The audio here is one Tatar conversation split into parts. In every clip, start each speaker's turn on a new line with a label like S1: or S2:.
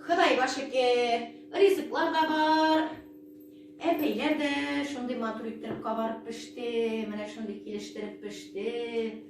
S1: Хыдайга шөкер, ризыклар да бар. Әпәйләр дә шундый матур иттереп кабарып пеште, менә шундый килештереп пеште.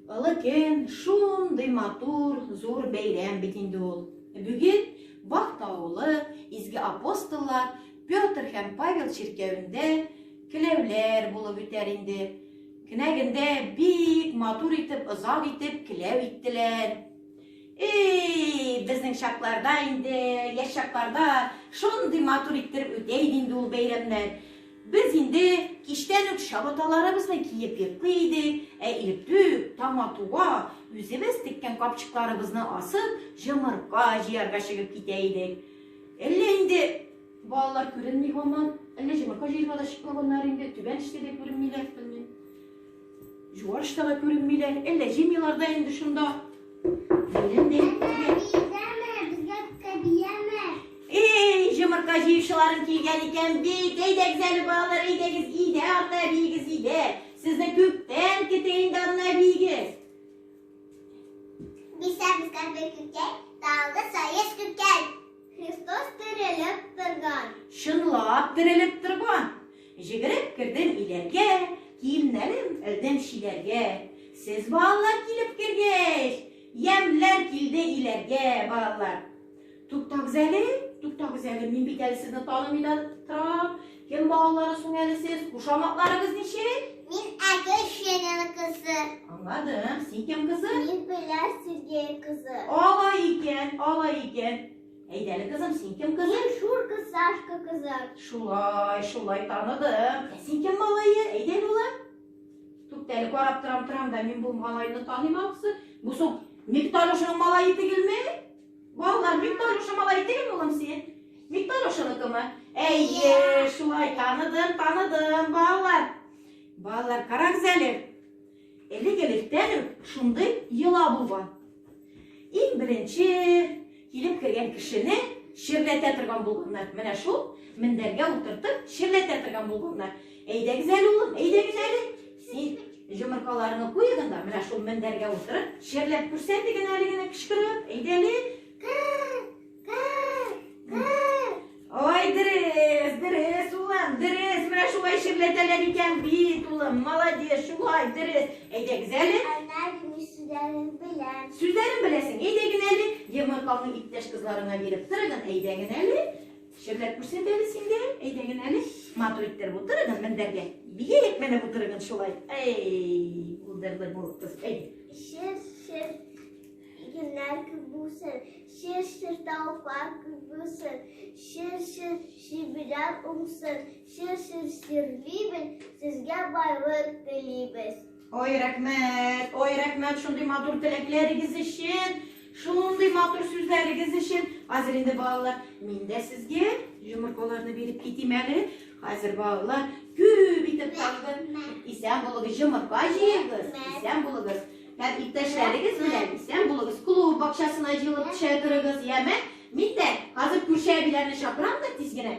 S1: Олы көн шундый матур, зур бәйрәм бит инде ул. Бүген Бахта авылы изге апостоллар Петр һәм Павел чиркәвендә келәүләр булып үтәр инде. Кенәгендә бик матур итеп, озак итеп келәү иттеләр. Эй, безнең чакларда инде, яшь чакларда шундый матур иттереп үтә иде инде ул бәйрәмнәр. Без инде кичтән үк чабаталарыбызны киеп йоклый идек, ә иртүк, таң атуга, үзебез теккән капчыкларыбызны асып, җомырка җыярга чыгып китә идек. Әллә инде Балалар күренми һаман. Әллә җомырка җыерга да чыкмаганнар инде, түбән эчтә дә күренмиләр, белмим. Юарышта да күренмиләр. Әллә җыймыйлар да инде шунда. Бәйрәм дә Эй, җомырка җыючыларым килгән икән бит. Әйдәгез әле, балалар, әйдәгез, өйдә ата әбиегез өйдә. Сезне күптән көтә инде ана әбиегез. Бисә безгә бер күптән, талгы саеш көткән. Христос терелеп торган. Чынлап терелеп торган. Җигереп кердем иләргә, киемнәрем элдем чиләргә. Сез, балалар, килеп кергәч, ямьләр килде иләргә, балалар. Туктагыз әле, туктагыз әле, мин бит әле сезне танымый да торам. Кем балалары соң әле сез? Кушаматларыгыз ничек? Мин Әгер Шенен кызы. Аңладым. Син кем кызы? Мин Белә Сергей кызы. Ала икән, ала икән. Әйдәле кызым, син кем кызы? Мин Шурка Сашка кызы. Шулай, шулай таныдым. Ә син кем малае? Әйдәле улым? Туктәле карап торам, торам да мин бу малайны таныйм алсы. Бу соң Мифтарушның малае түгелме? Балалар, бик Таруша малай идеме улым син? Бик Тарушаныкымы? Әйе, шулай таныдым, таныдым, балалар. Балалар, карагыз әле. Элек электән үк шундый йола булган. Иң беренче килеп кергән кешене ширләтә торган булганнар. Менә шул мендәргә утыртып ширләтә торган булганнар. Әйдәгез әле, улым, әйдәгез әле. Син җомыркаларыңны куегын да, менә шул мендәргә утырып, шерләп күрсәтегез әле генә кычкырып. Әйдә әле. Ой, дөрес, дөрес, улым, дөрес. Менә шулай ширләтәләр икән бит, улым. Молодец, шулай, дөрес. Әйдәгез әле. Сүзләрен беләм. Сүзләрен беләсең. Әйдәгез әле. Йомыркалны иптәш кызларына биреп торыгыз. Әйдәгез әле. Шәрләп күрсәтәбез инде. Әйдәген әле матур иттер утырыгын мендәргә. Бия ятмәләп утырыгын шулай. Әй, булдырды бу кыз. Әй. Шер, шер, игеннәр күп булсын. Шер, шер, тавыклар күп булсын. Шер, шер, шибиләр уңсын. Шер, шер, ширлибез. Сезгә байлык телибез. Ой, рәхмәт, ой, рәхмәт шундый матур теләкләрегез өчен, шундый матур сүзләрегез өчен. Хәзер инде балалар, мин дә сезгә йомыркаларны биреп китим әле. Хәзер балалар күп итеп калды. Исән булыгыз, йомырка җыегыз, исән булыгыз. Һәм иптәшләрегез белән исән булыгыз. Клуб бакчасына җыелып төшә торыгыз, яме? Мин дә хәзер күрше әбиләрне чакырам да тиз генә.